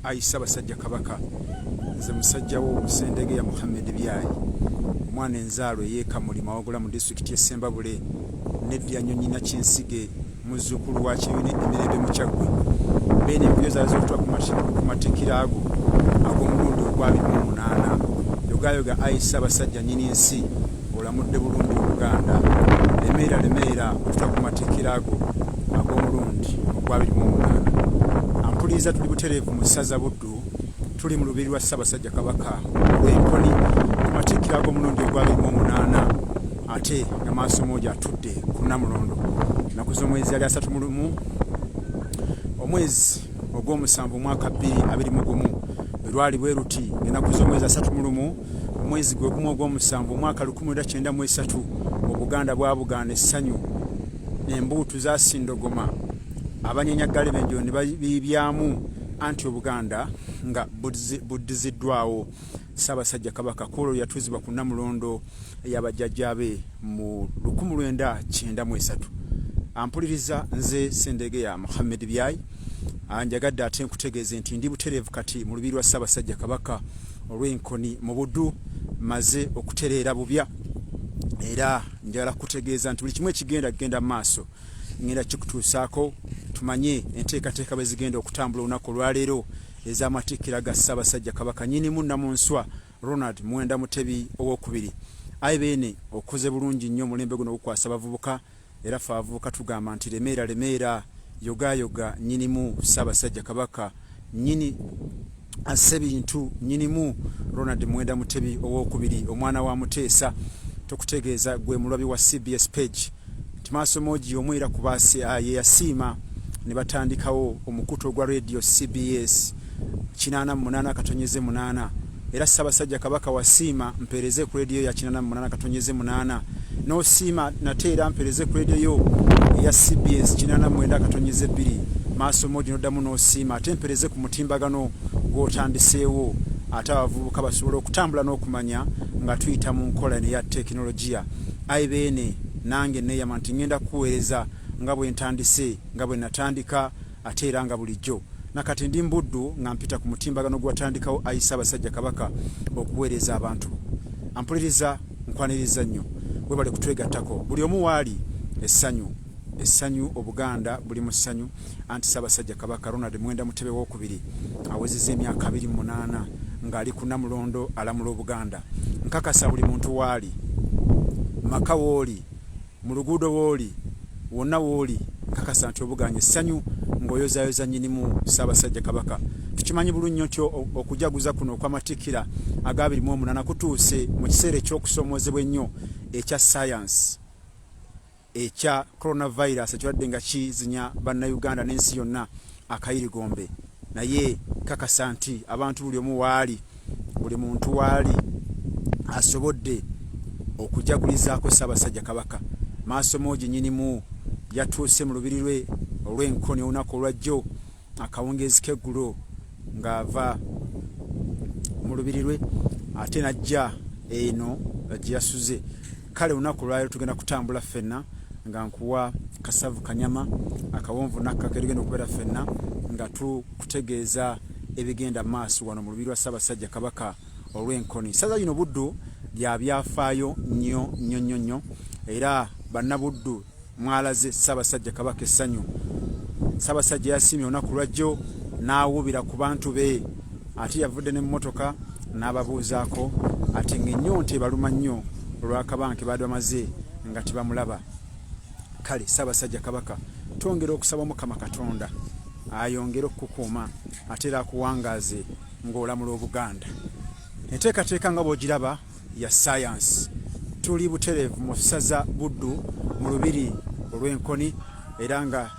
ayi ssabasajja kabaka nze musajja wo omusendege ya muhammed byayi omwana enzaalo eyekamuli mawagula mu disitulikiti esembabule neddiyanyonyina kyensige muzukulu wa kibina emirembe mukyaggwe beene empyo zaali zokutwa ku matikira ago ag'omulundi ogwabiri mu munaana yogayoga ayi ssabasajja nyini nsi olamudde bulungi obuganda lemeera lemeera okuta ku matikkiro ago ag'omulundi ogwabiri mu omuganda ampuliriza tuli butereevu mu ssaza buddu tuli mu lubiri lwa ssabasajja kabaka olw'enkoni ku matikkiro ag'omulundi ogwabiri mu omunaana ate nga maaso moogi atudde ku namulondo naku z'omwezi yali asatu mu lumu omwezi ogw'omusanvu omwaka bbiri abiri mu gumu bwe lwali bwe luti ng'ennaku z'omwezi asatu mu lumu omwezi gwe gumu ogw'omusanvu omwaka lukumi lwenda kyenda mu esatu obuganda bwabugaana essanyu embuutu zasindogoma abanyenyaggale benjiro ne babiibyamu anti obuganda nga buddiziddwawo Ssaabasajja Kabaka kwolwo yatuuzibwa ku Namulondo ya bajjajjaabe mu lukumu lwenda kyenda mu esatu. Ampuliriza nze Sendege ya Muhammed Byayi anjagadde ate nkutegeeze nti ndi butereevu kati mu lubiri lwa Ssaabasajja Kabaka olw'enkoni mu Buddu maze okutereera bubya era njagala kukutegeeza nti buli kimu ekigenda kugenda mu maaso ngenda kikutuusaako tumanye enteekateeka bwe zigenda okutambula olunaku olwaleero ez'amatikkira ga Ssaabasajja Kabaka Nnyinimu Nnamunswa Ronald Muwenda Mutebi ow'okubiri. Ayi Beene, okoze bulungi nnyo omulembe guno ogukwasa abavubuka era ffe abavubuka tugamba nti lemeera lemeera, yogaayoga Nnyinimu Ssaabasajja Kabaka Nnyini asse bintu nyinimu Ronald Mwenda Mutebi owokubiri omwana wa Muteesa tukutegeeza gwe mulwabi wa CBS page nti maasomogi y'omu era kuba ah, ye yasiima ne batandikawo omukutu ogwa radio cbs 88 katonyeze munana era ssabasajja kabaka wasiima mpeereze ku radio ya 88 katonyeze munana nosiima nate era mpeereze ku radio yo eya cbs 89 katonyeze bbiri maaso mogi noddamu nosiima ate mpeereze ku mutimbagano gwotandiseewo ate abavubuka basobola okutambula n'okumanya nga tuyita mu nkola neya tekinologiya Ayi Beene, nange nneeyama nti ŋŋenda kukuweereza nga bwe ntandise, nga bwe nnatandika, ate era nga bulijjo. Na kati ndi mu buddu nga mpita ku mutimbagano gwe watandikawo, ayi Ssaabasajja Kabaka, okuweereza abantu bo. Ampuliriza? Nkwanirizza nnyo. Weebale kutwegattako. Buli omu w'ali, essanyu. essanyu obuganda buli mu ssanyu anti ssaabasajja kabaka ronald mwenda mutebe wokubiri awezeza emyaka abiri munaana ng'ali ku namulondo alamula obuganda nkakasa buli muntu waali maka wooli mu luguudo wooli wonna wooli nkakasa nti obuganye essanyu ng'oyozayoza nyinimu ssaabasajja kabaka tukimanyi bulu nnyo nti okujaguza kuno okwamatikkira agabiri mu omunana kutuuse mu kiseera eky'okusoomoozebwa ennyo ekya sayansi ekya coronavirus ekibadde nga kizinya bannayuganda n'ensi yonna akayirigombe naye kakasa nti abantu buli omu waali buli muntu waali asobodde okujagulizaako ssaabasajja kabaka maaso moogi nyinimu yatuuse mu lubiri lwe olw'enkoni olunaku olwajjo akawungeezi k'eggulo ng'ava mu lubiri lwe ate n'ajja eno gye yasuze kale olunaku lwaliro tugenda kutambula ffenna nga nkuwa kasavu kanyama akawonvu nakka ketugenda okubeera ffenna nga tukutegeeza ebigenda maaso wano mu lubiri lwa ssaabasajja kabaka olw'enkoni ssaza lino buddu lya byafaayo nnyo nnyo nnyo nnyo era bannabuddu mwalaze Ssaabasajja Kabaka essanyu. Ssaabasajja yasiimye olunaku lwajjo n'awuubira ku bantu be ate yavudde ne mmotoka n'ababuuzaako ate ng'ennyonta ebaluma nnyo olw'akabanga ke baadde bamaze nga tebamulaba kale Ssaabasajja Kabaka twongera okusaba Mukama Katonda ayongere okukukuuma ate era akuwangaaze ng'olamula Obuganda enteekateeka nga bw'ogiraba ya sayansi tuli butereevu mu ssaza buddu mu lubiri olw'enkoni era nga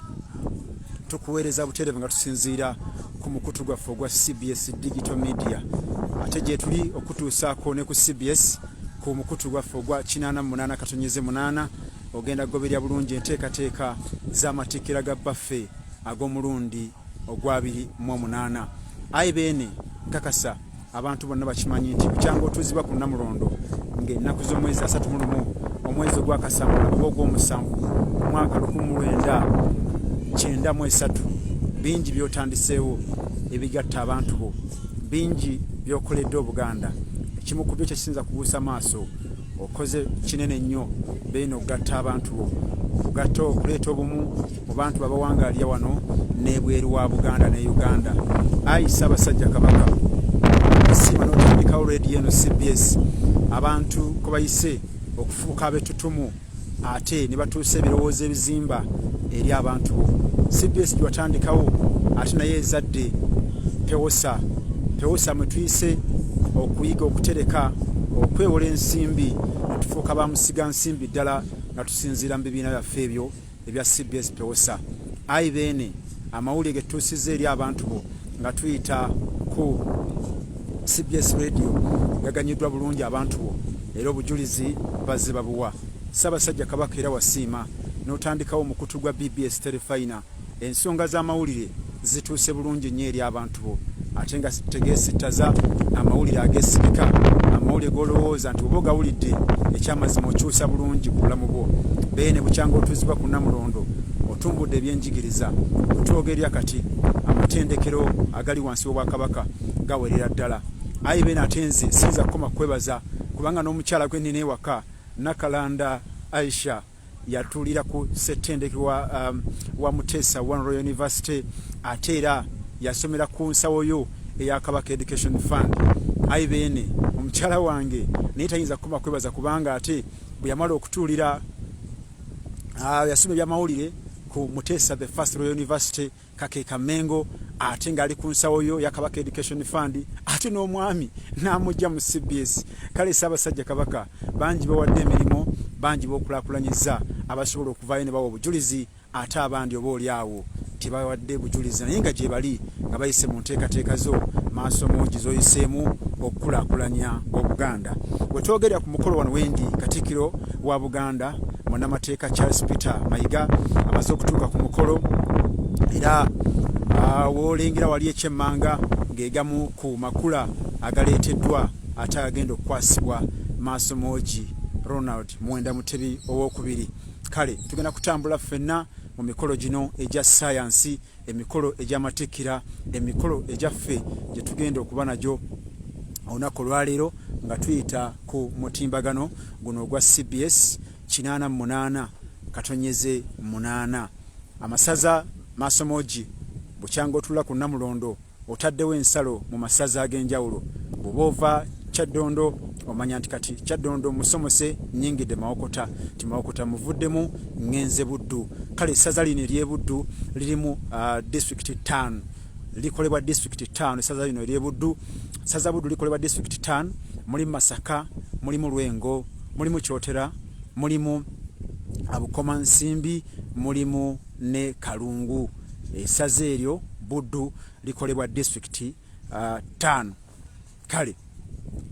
tukuweereza butereevu nga tusinziira ku mukutu gwaffe ogwa cbs digital media ate gyetuli okutuusaako ne ku cbs ku mukutu gwaffe ogwa 88 katonyeze 8 ogenda kugoberya bulungi enteekateeka z'amatikkira ga bbaffe ag'omulundi ogwabiri mu omunaana ayi beene nkakasa abantu bonna bakimanyi nti bukyanga otuuzibwa ku namulondo ngaennaku z'omwezi asatu mu lumu omwezi ogwakasambula oba ogw'omusanvu omwaka lukumi mu lwenda kyenda mu esatu bingi byotandiseewo ebigatta abantu bo bingi byokoledde obuganda ekimu ku byo kyekisinza kubuusa maaso okoze kinene nnyo beino okugatta abantu bo okugatta okuleeta obumu mu bantu babawangalya wano n'ebweru wa buganda ne uganda ayi ssaabasajja kabaka asiima n'otandikawo rediyo eno cbs abantu kwebayise okufuuka abetutumu ate ne batuusa ebirowoozo ebizimba eri abantu bo cbs gyewatandikawo ate naye ezadde pewosa pewosa mwetuyise okuyiga okutereka okwewola ensimbi netufuuka bamusiga nsimbi ddala nga tusinziira mu bibiina byaffe ebyo ebya cbs pewosa ayi beene amawulire getutuusizza eri abantu bo nga tuyita ku cbs radio gaganyiddwa bulungi abantu bo era obujulizi bazze babuwa ssaabasajja kabaka era wasiima n'otandikawo omukutu gwa bbs terefayina ensonga z'amawulire zituuse bulungi nnyo eri abantu tubo ate nga tegesittaza amawulire agesirika amawulire golowooza nti oba ogawulidde ekyamazima okyusa bulungi ku bulamu bwo bee ne bukyanga otuuzibwa ku namulondo otumbudde ebyenjigiriza otwogerya kati amatendekero agali wansi w'obwakabaka gawerera ddala ayi beena ate nze siyinza kukoma kukwebaza kubanga n'omukyala gwe nnina ewaka nakalanda aisha yatuulira ku ssettendekero wa, um, wa muteesa one royal university ate era yasomera ku nsawo yo eya kabaka education fund ayi beene omukyala wange naye tayinza kukoma kwebaza kubanga ate bwe yamala okutuulira uh, yasoma ebyamawulire ku muteesa the first royal university kakeka mengo ate nga ali ku nsawo yo ya kabaka education fund ate n'omwami n'amugya mu cbs kale ssaabasajja kabaka bangi bawadde emirimu bangi bokulakulanyiza abasobola okuvayo ne bawa obujulizi ate abandi oba oli awo tebawadde bujulizi naye nga gyebali nga bayise mu nteekateeka zo maaso mungi zoyiseemu okukulakulanya obuganda wetwogerera ku mukolo wano wendi katikiro wa buganda munnamateeka charles peter mayiga amaze okutuuka ku mukolo era ah, wolengera wali ekyemmanga ng'egamu ku makula agaleeteddwa ate agagenda okukwasibwa maaso moogi ronald muwenda mutebi owokubiri kale tugenda kutambula ffenna mu mikolo gino egya sayansi emikolo egy'amatikkira emikolo egyaffe gye tugenda okuba nagyo olunaku olwaleero nga tuyita ku mutimbagano guno ogwa cbs 88 katonyeze 8 amasaza maasomoogi bukyanga otula ku namulondo otaddewo ensalo mu masaza ag'enjawulo bw'oba ova kyaddondo omanya nti kati kyaddondo musomose nyingidde mawokota nti mawokota muvuddemu ŋŋenze buddu kale essaza lino ery'ebuddu lirimu uh, disitulikiti ttaano likolebwa disitulikiti ttaano essaza lino ery'ebuddu saza buddu likolebwa disitulikiti ttaano mulimu masaka mulimu lwengo mulimu kyotera mulimu abukomansimbi mulimu ne kalungu Essaza eryo Buddu likolebwa disitulikiti uh, ttaano. Kale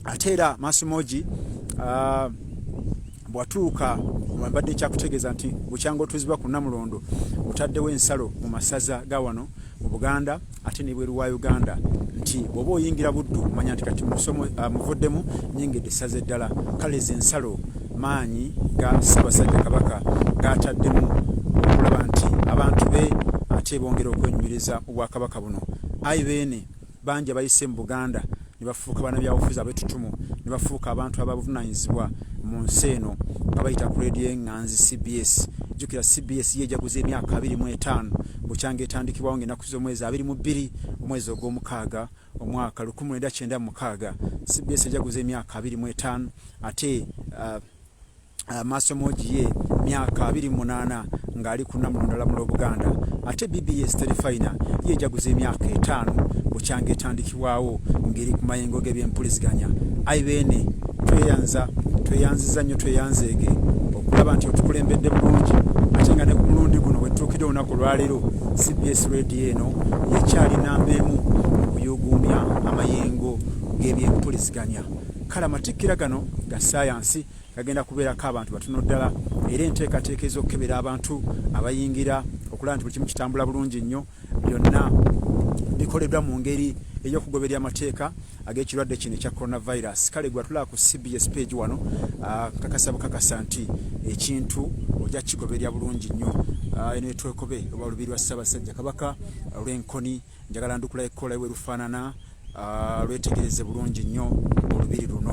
ate era Maasimogi uh, bwatuuka wambadde kyakutegeeza nti bukyanga otuuzibwa ku Namulondo otaddewo ensalo mu masaza ga wano mu Buganda ate n'ebweru wa Uganda nti bw'oba oyingira Buddu manya nti kati uh, muvuddemu nyingidde essaza eddala. Kale ezo ensalo maanyi ga Ssaabasajja Kabaka gaataddemu okulaba nti abantu be ate bongera okwenyumiriza mu Bwakabaka buno. Ayi Beene, bangi abayise mu Buganda ne bafuuka bannabyabufuzi abetutumu ne bafuuka abantu ababuvunaanyizibwa mu nsi eno nga bayita ku leediyo eng'anzi CBS. Jjukira CBS ye ejaguza emyaka abiri mu etaano bukyanga etandikibwawo ng'ennaku z'omwezi abiri mu bbiri omwezi ogw'omukaaga. omwaka lukumi lwenda kyenda mukaaga cbs ejaguza emyaka abiri mu etaano ate uh, uh, masomogi ye myaka abiri mu munaana ng'ali ku namulondala mu lwobuganda ate bbs terifina ye ejaguza emyaka etaano bukyanga etandikibwawo ngeri ku mayengo g'ebyempuliziganya ai beene tweyanza tweyanziza nnyo tweyanzeege okulaba nti otukulembedde bulungi ate nga ne ku mulundi guno wetutuukidde olunaku olwaleero cbs radio Embeera eno ekyali nnamba emu mu kuyuuguumya amayengo g'ebyempuliziganya. Kale amatikkira gano ga ssaayansi gagenda kubeerako abantu batono ddala era enteekateeka ez'okukebera abantu abayingira okulaba nti buli kimu kitambula bulungi nnyo byonna bikoleddwa mu ngeri ey'okugoberera amateeka. ag'ekirwadde kino ekya coronavirus kale gwatulaba ku cbs page wano ah, kakasa bukakasa nti ekintu ojja kigoberera bulungi nnyo ah, eno etwekobe oba olubiri lwa ssaabasajja kabaka lw'enkoni njagala ndukula ekkola ewe lufaanana ah, lwetegereze bulungi nnyo olubiri luno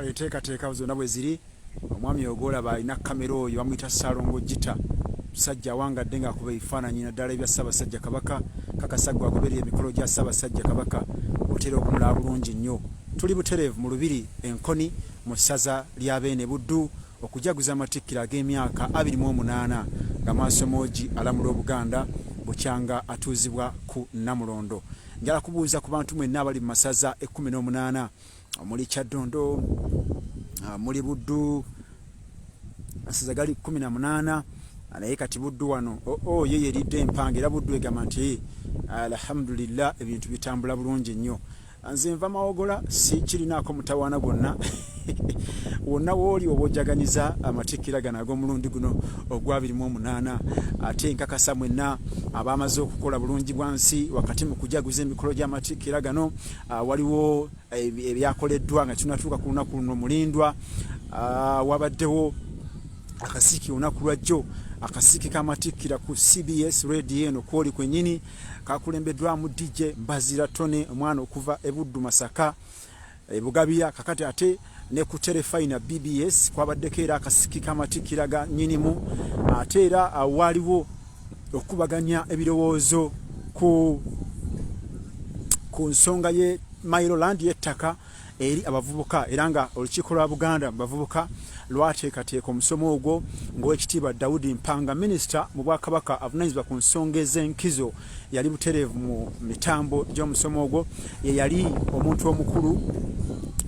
kale teekateeka zonna bwe ziri omwami oyo gwolaba alina kamera oyo bamuyita salongo gita musajja awangadde ngaakuba ebifaananyi naddala ebya ssaabasajja kabaka kakasagga agoberera emikolo gya ssaabasajja kabaka otera okumulaba bulungi nnyo tuli butereevu mu lubiri enkoni mu ssaza lya beene buddu okujaguza amatikkiro ag'emyaka abiri mu omunaana nga maaso moogi alamula obuganda bukyanga atuuzibwa ku namulondo njala kubuuza ku bantu mwenna abali mu masaza ekkumi n'omunaana omuli kyaddondo ah, muli buddu asiza gali kumi na munaana ah, naye kati buddu wano oo oh, oh, ye yeridde empanga era buddu egamba nti alhamdulillah ebintu bitambula bulungi nnyo nze nva mawogola si kirinaako mutawaana gwonna wonna wooli oba ojaganiza amatikkira gano ag'omulundi guno ogwabirimu omunaana ate nkakasa mwenna abaamaze okukola bulungi bwa nsi wakati mu kujaguza emikolo gy'amatikkira gano Ah, waliwo eh, ebyakoleddwa nga kinatuuka ku lunaku luno mulindwa ah, wabaddewo akasiiki olunaku lwajjo akasiiki kamatikkira ku cbs radio eno kwoli kwenyini kakulembeddwamu dj mbazira tone omwana okuva ebuddu masaka ebugabiya kakati ate ne ku terefayina bbs kwabaddeko era akasiki k'amatikkira ga nnyinimu ate era waaliwo okukubaganya ebirowoozo ku ku nsonga ye mailoland y'ettaka eri abavubuka era nga olukiiko lwa buganda mu bavubuka lwateekateeka omusomo ogwo ng'owekitiibwa daudi mpanga minisita mu bwakabaka avunanyizibwa ku nsonga ez'enkizo yali butereevu mu mitambo gy'omusomo ogwo ye yali omuntu omukulu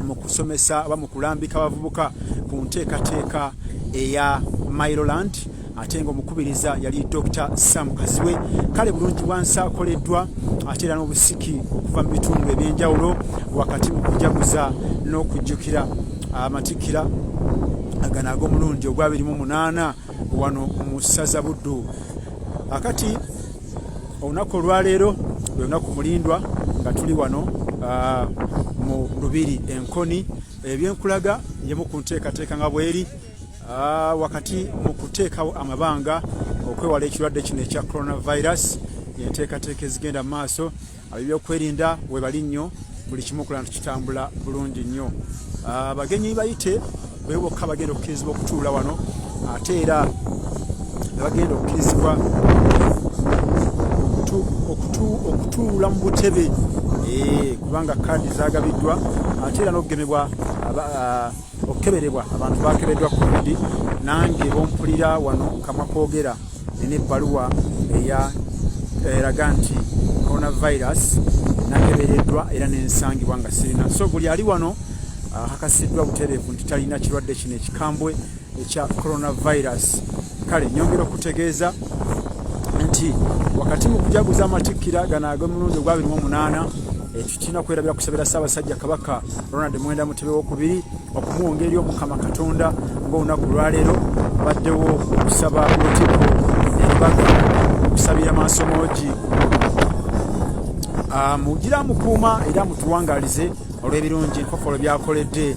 mu kusomesa oba mu kulambika abavubuka ku nteekateeka eya miloland ate nga omukubiriza yali dr sam kaziwe kale bulungi bwansi akoleddwa ate era n'obusiki okuva mu bitundu eby'enjawulo wakati mu kujaguza n'okujjukira amatikkira agano ag'omulundi ogwabirimu munaana wano mu ssaza buddu akati olunaku olwaleero lwe lunaku mulindwa nga tuli wano ah, mu lubiri enkoni ebyenkulaga yemu ku nteekateeka nga bweri ah, wakati mu kuteekawo amabanga okwewala ekirwadde kino ekya coronavirus enteekateeka ezigenda mu maaso Abebyokwerinda webali nnyo buli kimu okulana tukitambula bulungi nnyo. Ah, abagenyi bayite bebo bokka bagenda okukirizibwa okutuula wano ate era bagenda okukirizibwa okutuula mu butebe eh, kubanga kaadi zagabiddwa ate era n'okugemebwa ah, okukeberebwa abantu bakebeddwa covid nange bompulira wano kamwa kogera Nina ebbaluwa eya eraga nti coronavirus nakebereddwa era nensangibwa nga sirina so buli ali wano akakasiddwa butereevu nti talina kirwadde kino ekikambwe ekya coronavirus kale nyongera okutegeeza nti wakati mu kujaguza amatikkira gano ag'omulundi ogwabiri mu omunaana ekyo kirina kwerabira kusabira ssaabasajja kabaka ronald mwenda mutebe wokubiri okumuwonga eri omukama katonda ngaolunaku lwaleero baddewo okusaba lutiko eribaga okusabira mansomoogi ah, mugira mukuuma era mutuwangalize olw'ebirungi enkokolo byakoledde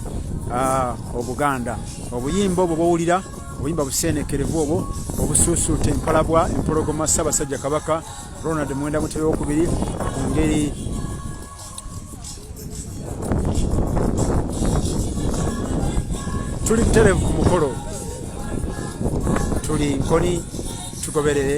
ah, obuganda obuyimba obwo bwowulira obuyimba buseenekerevu obwo obusuusuuta empalabwa empologoma ssaabasajja kabaka ronald mwenda mutebe wokubiri ku ngeri tuli buterevu ku mukolo tuli nkoni tugoberere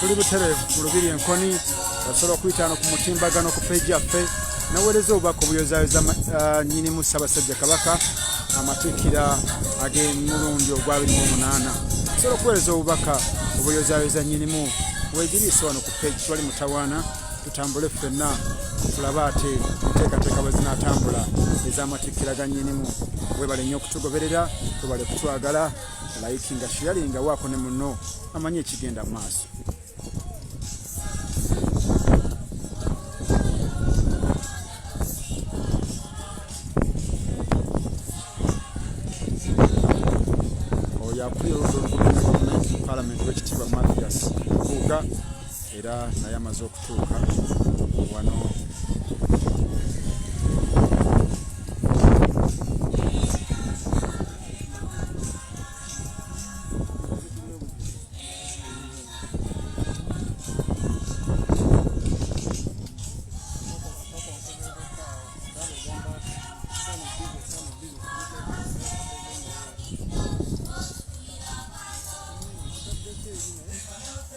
tuli butereevu ku lubiri enkoni osobola okuyitaano ku mutimbagano ku peji yaffe naweereza obubaka obuyozayoza uh, nyinimu ssabasajja kabaka amatikkira ag'emulundi ogwa 28 osobola okuweereza obubaka obuyozayoza nyinimu wegiriisa wano ku peji twali mutawaana tutambule ffenna tulabe ate enteekateeka bwe zinaatambula ez'amatikkira ga nnyinimu webale nnyo okutugoberera webale kutwagala layiki nga shiyali nga waako ne muno amanyi ekigenda mu maaso oyo akulira oludda olukuaa palamenti w'ekitiibwa mathias kuuga era naye amaze okutuuka wano Thank you.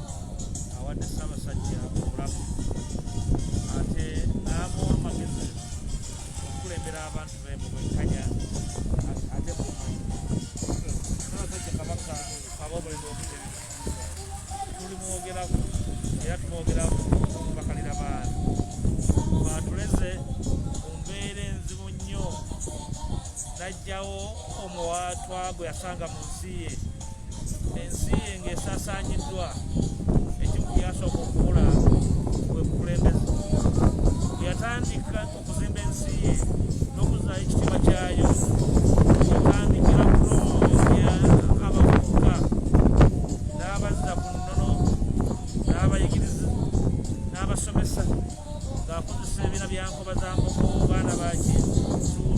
awadde ssabasajja obulamu ate n'amuwa amagezi okukulembera abantu be mu bwenkanya ate mumanyi ssabasajja kabaka aba omulimu omutebi tulimwogerako era tumwogerako okubakalira baana baatuleze mu mbeera enzibu nnyo n'aggyawo omuwaatwa gwe yasanga mu nsi ye ensi ye ng'esaasaanyiddwa ekimu ku byasooka okubula bwe bukulembeze bwe yatandika okuzimba ensi ye n'okuzaayo ekitiibwa kyayo yatandikira kunonya abavubuka n'abazza ku nnono n'abayigiriza n'abasomesa ng'akozesa ebibiina bya nkoba za nkoko baana ba kintu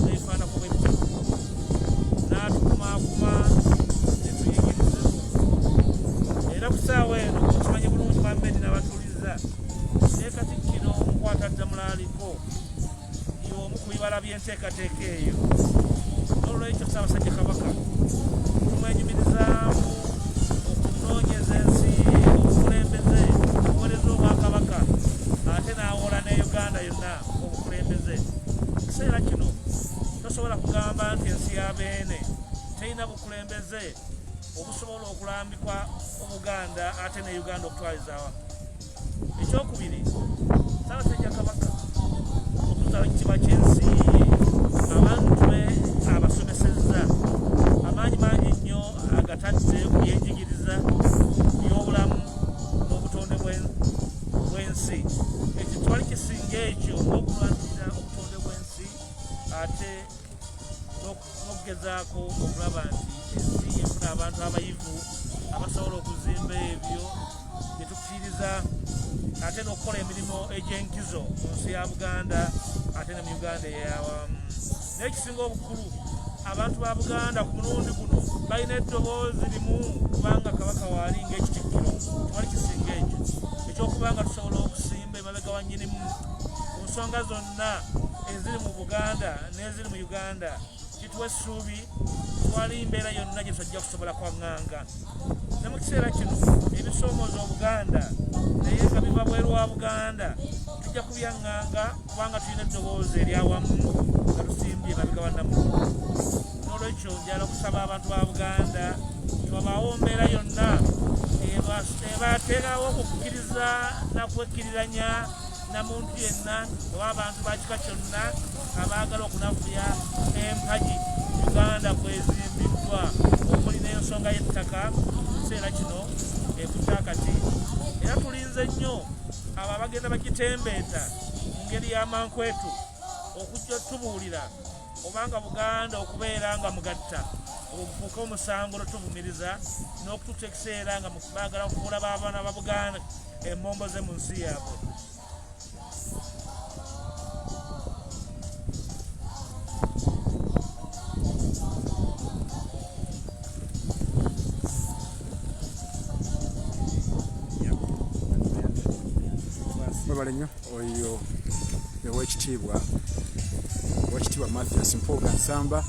ebifaanako bwe bityo n'atukumaakuma ne tuyigiriza era ku ssaawa eno okimanyi bulungi bambedi n'abatuuliza ne katikkiro nkwata ddamula aliko y'omu ku bibala bye enteekateeka eyo n'olwekyo ssaabasajja kabaka tumwenyumirizaamu okunoonyeza ensi obukulembeze obuwereza obwakabaka ate n'awola ne uganda yonna obukulembeze ekiseera kino tosobola kugamba nti ensi ya beene terina bukulembeze obusobola okulambikwa obuganda ate ne uganda okutwalizawa ekyokubiri saabasajja kabaka okuzala ekitiba kyensi abantu be abasomesezza amaanyi mangi nnyo agatadde ku byenjigiriza byobulamu n'obutonde bwensi ekyo twali kisinga ekyo okulwanirira obutonde bwensi ate okugezaako okulaba nti ensi efuna abantu abayivu abasobola okuzimba ebyo byetufiiriza ate n'okukola emirimu egy'enkizo mu nsi ya buganda ate ne mu uganda eyawamu naye ekisinga obukulu abantu ba buganda ku mulundi guno balina eddoboozi limu kubanga kabaka waali ngaekitikkiro tewali kisinga ekyo ekyokuba nga tusobola okusimba emabega wa nyinimu ku nsonga zonna eziri mu buganda mu uganda kituwa essuubi twali mbeera yonna gye tusajja kusobola kwaŋŋanga ne mu kiseera kino ebisoomooza obuganda naye nga biva bweru wa buganda tujja kubyaŋŋanga kubanga tulina eddoboozi eryawamu nga tusimbye mabega bannamu n'olwekyo njala okusaba abantu ba buganda twabaawo mbeera yonna ebateerawo okukkiriza nakwekkiriranya namuntu yenna oba abantu bakika kyonna abaagala okunafuya empagi uganda kwezimbiddwa omuli n'ensonga y'ettaka kiseera kino ekukyakati era tulinze nnyo abo abagenda bakitembeeta mu ngeri y'amankwetu okujja otubuulira obanga buganda okubeera nga mugatta okufuuka omusango lwetuvumiriza n'okutuuka ekiseera nga baagala okufuula baabaana ba buganda embombo ze mu nsi yaabwe webale nnyo oyo owekitiibwa owekitiibwa mathias mpuuga nsamba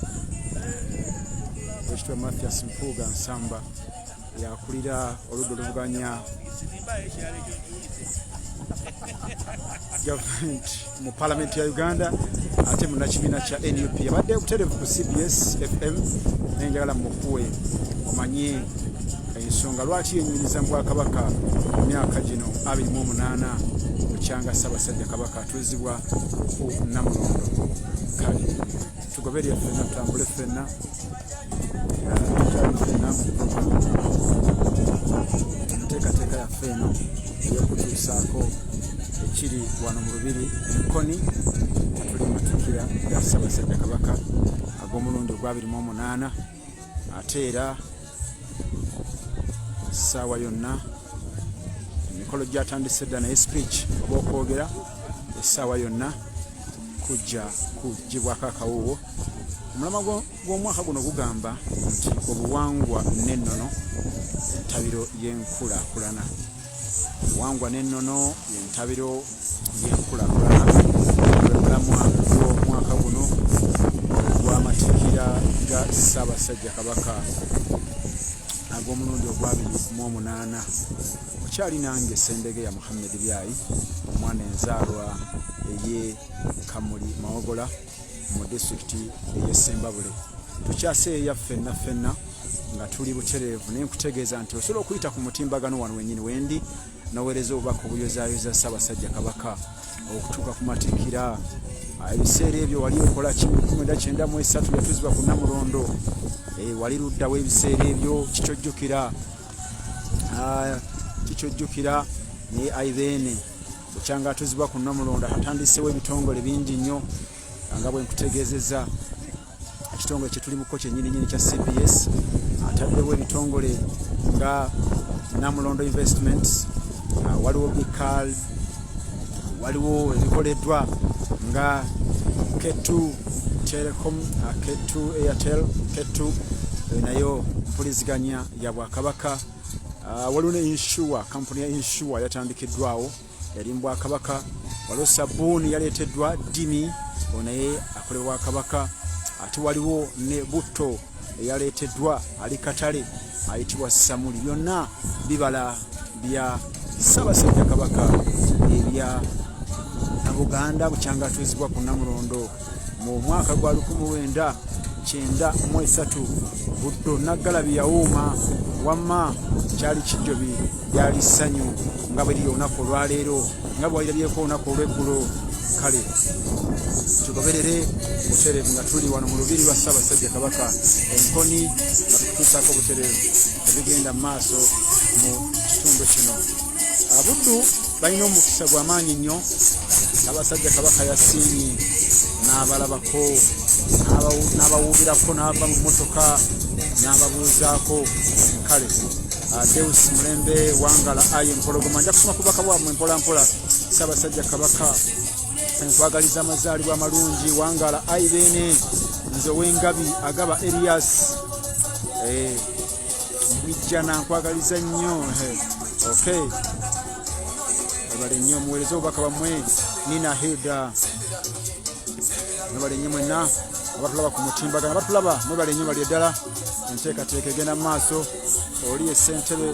owekitiibwa mathias mpuuga nsamba yakulira oludda oluvuganya gavumenti mu palamenti ya uganda ate munakibiina kya nup yabadde buterevu ku cbs fm naye njagala mukuwe omanye ensonga lwaki yenyumiza mu bwakabaka mu myaka gino 28 mukyanga ssabasajja kabaka atuzibwa ku namulondo kale tugoberya fenna tutambule fenna enteekateeka yaffe eno eyokutuusaako ekiri wano mu lubiri enkoni atuli matikira ga ssabasajja kabaka ag'omulundi ogwabiri mu omunaana ate era essaawa yonna emikolo gyatandise dda naye speech oba okwogera essaawa yonna kujja kugibwako akawuwo omulama gw'omwaka guno gugamba nti obuwangwa n'ennono entabiro y'enkulakulana obuwangwa n'ennono yentabiro y'enkulakulana omulamwa gw'omwaka guno ogw'amatikira ga ssaabasajja kabaka ag'omulundi ogwabiri mu omunaana okyali nange sembege ya muhammed byayi omwana enzaalwa eye kamuli mawogola mu disitulikiti eye sembabule tukyaseeya ffenna ffenna nga tuli butereevu naye nkutegeeza nti osobola okuyita ku mutimbagano wano wenyini wendi noweereza obubaka obuyozayoza ssaabasajja kabaka okutuuka ku matikira ah, ebiseera ebyo wali okola kimkumida kyenda mu esatu yatuzibwa ku namulondo eh, wali luddawo ebiseera ebyo kikyojjukira ah, kikyojjukira naye aidhene bukyanga atuzibwa ku namulondo atandisewo ebitongole bingi nnyo nga bwenkutegezeza ekitongole kyetulimuko kyenyininyini kya cbs ataddewo ebitongole nga namulondo investment ah, waliwo bical waliwo ebikoleddwa nga ketu telecom ah, ketu airtel ketu eh, nayo mpuliziganya ya bwakabaka ah, waliwo ne insure kampuni ya insure yatandikiddwawo yali mu bwakabaka waliwo sabuuni yaleeteddwa dimi o naye akole bwakabaka ate waliwo ne butto eyaleeteddwa ali katale ayitibwa samuli byonna bibala bya ssabasajja kabaka ebya buganda bukyangatuuzibwa ku namulondo mu mwaka gwa 1993 buddo naggalabi yawuuma wamma kyali kijjobi lyali ssanyu nga bwe liri olunaku olwaleero nga bwewalirabyeko olunaku olweggulo kale tugoberere buterevu nga tuli wano mu lubiri lwa ssaabasajja kabaka enkoni nga tukutuusaako buterevu ebigenda mu maaso mu kitundu kino abuddu balina omukisa gwa maanyi nnyo abasajja kabaka yasiinyi n'abalabako n'abawuubirako n'ava mu mmotoka n'ababuuzaako kale ah, deus mulembe wangala aye mpologoma nja kusoma ku baka bwamwe mpolampola saabasajja kabaka nkwagaliza amazaalibwa amalungi wangala ayi beene nze owengabi agaba erias eh, mwijjana nkwagaliza nnyo okay nabale nnyo muwereze obubaka bamwe nina hilda nabale nnyo mwenna abatulaba ku mutimbagana abatulaba mwebale nnyo bali eddala enteekateeka egenda mu maaso oli esentebe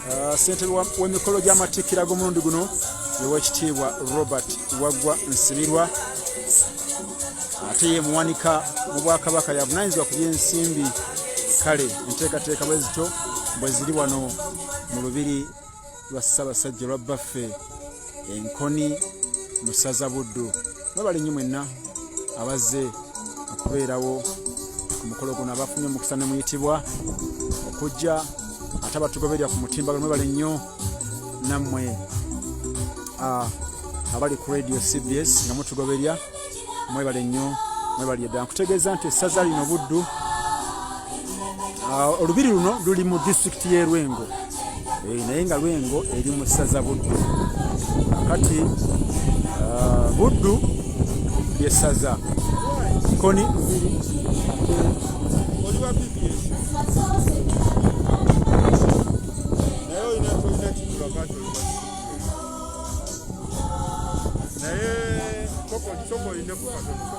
Uh, ssentebe w'emikolo gy'amatikkira g'omulundi guno ewekitiibwa robert waggwa nsibirwa ate ye muwanika mu bwakabaka yavunanyizibwa ku by'ensimbi kale enteekateeka bwe zito bwe ziri wano mu lubiri lwa ssabasajja lwa bbaffe enkoni mu ssaza buddu mwebale nnyo mwenna abazze okubeerawo ku mukolo guno abafunye omukisa ne muyitibwa okujja ate abatugoberera ku mutimbagano mwebale nnyo nammwe ah, abali ku radio cbs nga mutugoberya mwebale nnyo mwebali edda nkutegeeza nti essaza lino buddu ah, olubiri luno luli mu disitulikiti y'e lwengo eh, naye nga lwengo eri mu ssaza buddu kati ah, buddu lyessaza koni naye koko kiko olina kukatono